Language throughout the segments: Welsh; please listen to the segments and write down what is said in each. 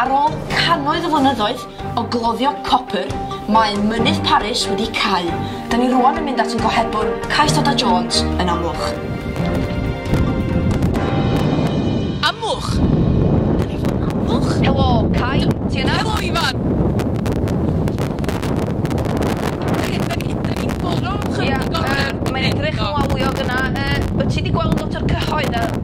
Ar ôl cannoedd o flynyddoedd o gloddio copr, mae Mynydd Paris wedi cau. Da ni rwan yn mynd at yn gohebwr, Cais Dada Jones, yn Amwch. Amwch? Da ni fod yn Amwch? Helo, Cai, ti yna? Helo, Ifan! Ie, mae'n edrych yn wawiog yna. Wyt ti wedi gweld lot o'r cyhoedd?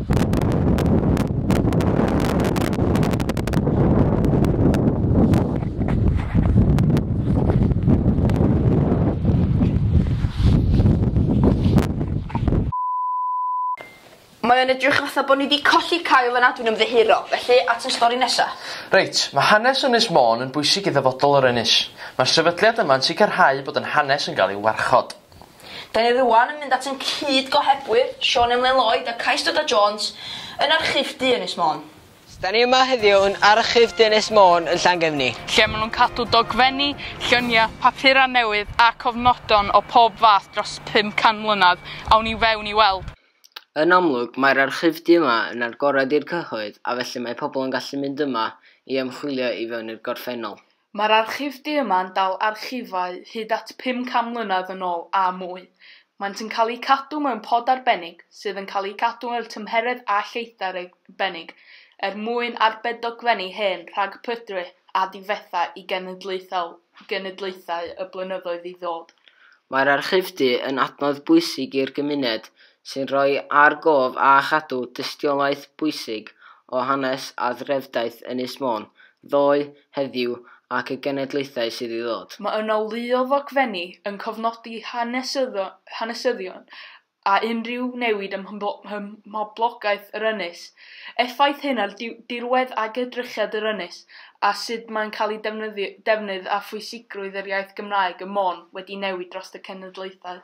Mae o'n edrych fatha bod ni 'di colli Kyle yna, dwi'n ymddiheuro. Felly, at y stori nesa. Reit, mae hanes Ynys Môn yn bwysig i ddyfodol yr ynys. Mae'r sefydliad yma'n sicrhau bod ein hanes yn cael ei warchod. Da ni rŵan yn mynd at yn cyd-gohebwyr, Siôn Emlyn Lloyd a Cais Dwynwen Jones, yn Archif Du Ynys Môn. Da ni yma heddiw yn Archif Du Ynys Môn yn Llangefni. Lle maen nhw'n cadw dogfenni, lluniau, papurau newydd a cofnodon o pob fath dros 500 mlynedd. Awn i fewn i weld. Yn amlwg, mae'r Archif Du yma yn agored i'r cyhoedd a felly mae pobl yn gallu mynd yma i ymchwilio i fewn i'r gorffennol. Mae'r archif du yma'n dal archifau hyd at 500 mlynedd yn ôl a mwy. Maent yn cael eu cadw mewn pod arbennig sydd yn cael eu cadw mewn tymheredd a lleithder arbennig er mwyn arbed dogfenni hen rhag pydru a difetha i genedlaethau genedlaethau y blynyddoedd i ddod. Mae'r archif du yn adnodd bwysig i'r gymuned sy'n rhoi ar gof a chadw dystiolaeth bwysig o hanes a threfdaeth Ynys Môn, ddoe, heddiw ac y genedlaethau sydd i ddod. Mae yna lu o ddogfenni yn cofnodi hanesyddion a unrhyw newid ym mhoblogaeth yr ynys, effaith hyn ar dirwedd ac edrychiad yr ynys a sut mae'n cael ei defnydd a phwysigrwydd yr iaith Gymraeg ym Môn wedi newid dros y cenedlaethau.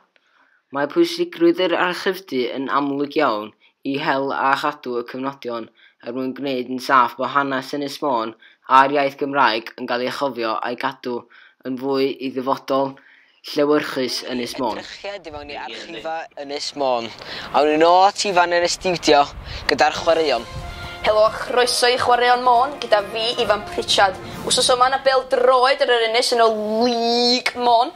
Mae pwysigrwydd yr archifdy yn amlwg iawn i hel a chadw y cyfnodion er mwyn gwneud yn saff bod hanes Ynys Môn a'r iaith Gymraeg yn cael ei chofio a'i gadw yn fwy i ddyfodol llewyrchus Ynys Môn. Edrychiad i mewn i archifau Ynys Môn. Awn ni nôl at Ifan yn y stiwdio gyda'r chwaraeon. Helo a chroeso i Chwaraeon Môn gyda fi, Ifan Pritchard. Wsos yma, 'na bêl-droed ar yr ynys yn y League Môn.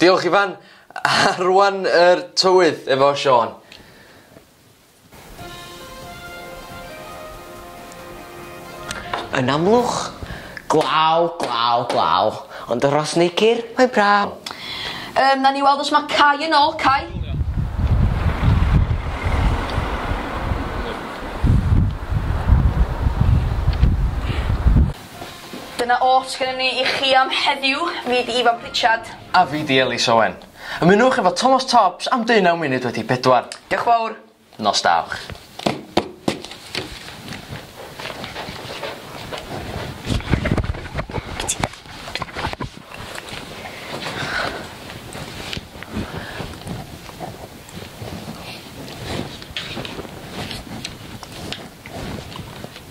Diolch Ifan! A rwan yr tywydd efo Siân. Yn amlwch, glaw, glaw, glaw, ond y Rhos Neicr, mae'n braf. Yym, nawn ni weld os mae Cai yn ôl. Cai? Dyna oll sgynnon ni i chi am heddiw, fi 'di Ifan Pritchard. A fi 'di Elis Owen. Ymunwch efo Tomos Tobbs am deunaw munud wedi pedwar. Dioch fawr. Nos da iwch.